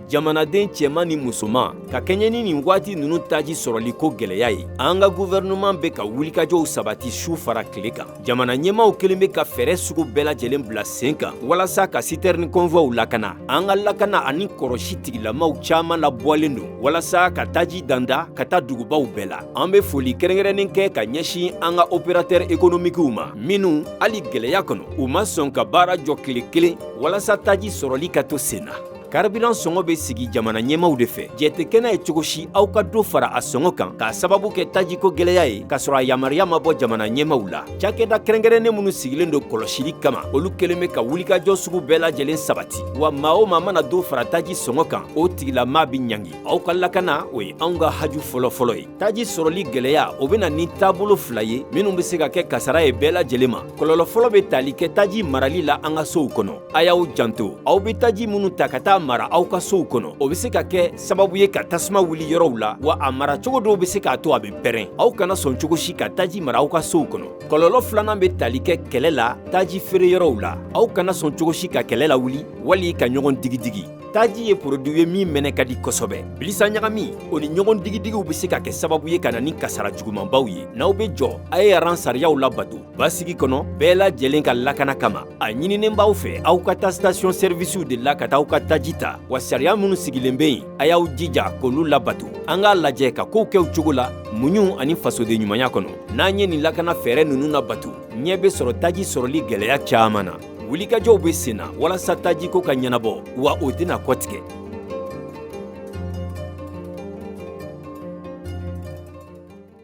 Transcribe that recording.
jamanaden cɛman ni musoman ka kɛɲɛ ni nin waati ninnu taji sɔrɔli ko gɛlɛya ye an ka guvɛrɛnɛman bɛ ka wulikajɔw sabati su fara tile kan jamana ɲɛmaw kelen bɛ ka fɛɛrɛ sugu bɛɛ lajɛlen bila sen kan walasa ka sitɛrini kɔnvuwaw lakana an ka lakana ani kɔrɔsi tigilamaw caaman labɔlen don walasa ka taji danda ka taa dugubaw bɛɛ la an be foli kɛrɛnkɛrɛnnen kɛ ka ɲɛsin an ka operatɛr ekonomikiw ma minnu hali gɛlɛya kɔnɔ u ma sɔn ka baara jɔ kile kelen walasa taji sɔrɔli ka to sen na karibiran sɔngɔ bɛ sigi jamana ɲɛmaw de fɛ jɛn tɛ kɛ n'a ye cogo si aw ka dɔ fara a sɔngɔ kan k'a sababu kɛ tajiko gɛlɛya ye k'a sɔrɔ a yamaruya ma bɔ jamana ɲɛmaw la cakɛda kɛrɛnkɛrɛnnen minnu sigilen don kɔlɔsili kama olu kelen bɛ ka wulikajɔ sugu bɛɛ lajɛlen sabati wa maa o maa mana dɔ fara taji sɔngɔ kan o tigilama bɛ ɲangi aw ka lakana o ye anw ka haju fɔlɔfɔlɔ ye taji sɔrɔli gɛlɛya o bɛ na ni taabolo fila ye minnu bɛ se ka kɛ kasara ye bɛɛ lajɛlen ma kɔlɔlɔ fɔlɔ bɛ tali kɛ taji marali la an ka sow kɔnɔ A y'aw janto aw bɛ taji minnu ta ka taa mara aw ka sow kɔnɔ o bɛ se ka kɛ sababu ye ka tasuma wuli yɔrɔw la wa a mara cogo dɔw bɛ se k'a to a bɛ pɛrɛn aw kana sɔn cogo si ka taji mara aw ka sow kɔnɔ kɔlɔlɔ filanan bɛ tali kɛ kɛlɛ la taji feere yɔrɔw la aw kana sɔn cogo si ka kɛlɛ lawuli wali ka ɲɔgɔn digidigi taji ye poroduwi ye min mɛnɛ ka di kosɛbɛ bilisa ɲagami o ni ɲɔgɔn digidigiw bɛ se ka kɛ sababu ye ka na ni kasara jugumanbaw ye n'aw bɛ jɔ a ye aran sariyaw labato basigi kɔnɔ bɛɛ lajɛlen ka lakana kama a ɲininen b'aw fɛ aw ka taa station sɛrivisiw de la ka taa aw ka taji ta wa sariya minnu sigilen be yen a y'aw jija k'olu labato an k'a lajɛ ka kow kɛ u cogo la muɲu ani fasoden ɲumanya kɔnɔ n'an ye nin lakana fɛɛrɛ nunu nabato ɲɛ be sɔrɔ taji sɔrɔli gwɛlɛya caaman na wulikajɔw be sen na walasa tajiko ka ɲɛnabɔ wa o tɛna kɔtigɛ